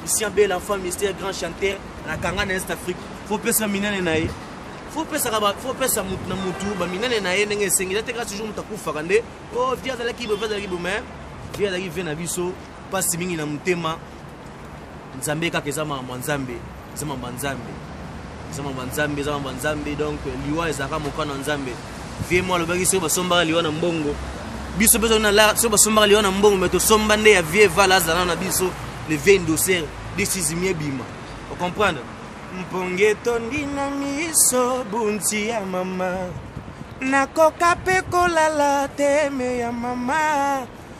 Christian Bella enfant mystère grand chanteur na kanga na Est Afrique faut pesa minene na ye faut pesa ba faut pesa mutu na mutu ba minene na ye ndenge esengi te kaka toujours mutu akufaka nde oh vie azalaki bo vie azalaki bo mais vie azalaki vie na biso pasi mingi na motema nzambe kaka eza makambo ya nzambe eza mamba nzambe eza mamba nzambe eza mamba nzambe donc liwa ezalaka mokano ya nzambe vie mwa alobaki soki basombaka liwa na mbongo biso mpe soki basombaka liwa na mbongo me tosomba nde ya vie vala azala na biso le vie indoser desizimi ebima ocomprendre mponge etondi na miso bunti ya mama nakoka mpe kolala teme ya mama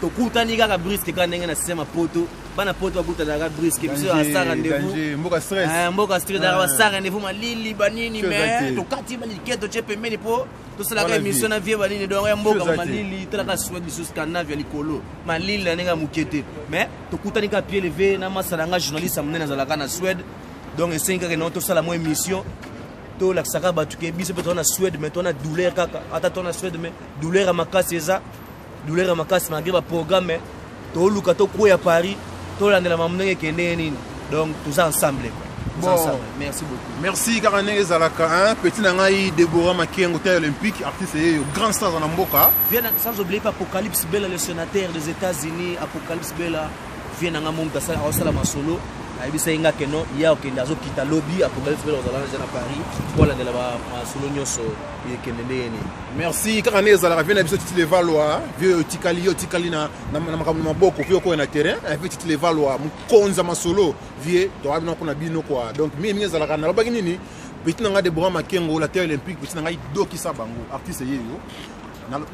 tokutani kaka briske kaka ndenge na sema poto bana poto bakutanaka briske biso asa rendez-vousmboka stress eh, daka basa ah. rendez-vous malili banini me tokati baliketo tye pembeni mpo tosalaka émission na vie banini donc ya mboka malili talaka suède lisusu scandinave ya likolo malili na ndenge ya moke te mais tokutani kaka pied levé na masala nga journaliste ya monene azalaka na suède donc esengi kaka nao tosala mwa émission tolakisaka bato ke biso mpe toza na suède mais toza na douleur kaka ata toza na suède mais douleur ya makasi eza douleur ya makasi malgré ba programme toluka tokweya paris tolandela mamu ndenge ekendeye nini donc toza ensemble Bon. Merci beaucoup. Merci kaka ndenge ezalaka hein petit na ngai Deborah Makengo taille olympique artiste yeyo grand star na mboka. Viens sans oublier pas Apocalypse Bella le sénateur des États-Unis Apocalypse Bella viens na nga mon gasala osala masolo ayebisa ye nga ke non ye akokende azokita lobi Apocalypse Bella ozalana ja na Paris mpo alandela masolo nyonso ekelele ye nini merci kaka nde ezalaka vie na biso titi levalwa vie oyo otikali yo otikali na makambo na maboko vie okoya na terrain eh, vie titi levalwa mokonzi ya masolo vie toka bino mpo na bino kua donc mingi mingi ezalaka nalobaki nini petit na ngai debora makengo la terre olympique petit na ngai dokisa bango artiste ye yo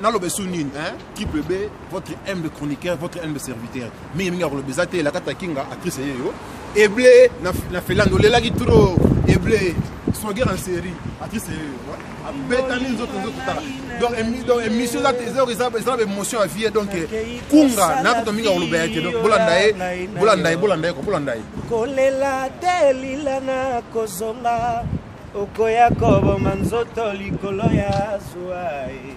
naloba esu nini triple b votre humble chroniqueur votre humble serviteur mingi mingi akoloba eza te elakata kinga actrice ye yo eble na felando olelaki trop eble swagger en série actrice ye yo abetami nzoto nzoto tala donc émission eza te eza na baémotion ya vie donc kunga nakuta mingi akoloba ya te donc bolanda ye bolanda ye bolanda ye bolanda ye kolela te lila na kozonga okoya koboma nzoto likolo ya zwa ye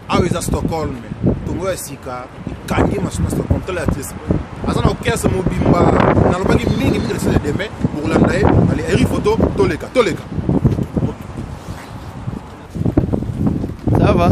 awa eza stockholm tongo ya sika ekangi masuna stockholm tala artiste aza na orchestre mobimba nalobaki mingi mingi lesile deme bokolanda ye ale eri foto toleka toleka ça va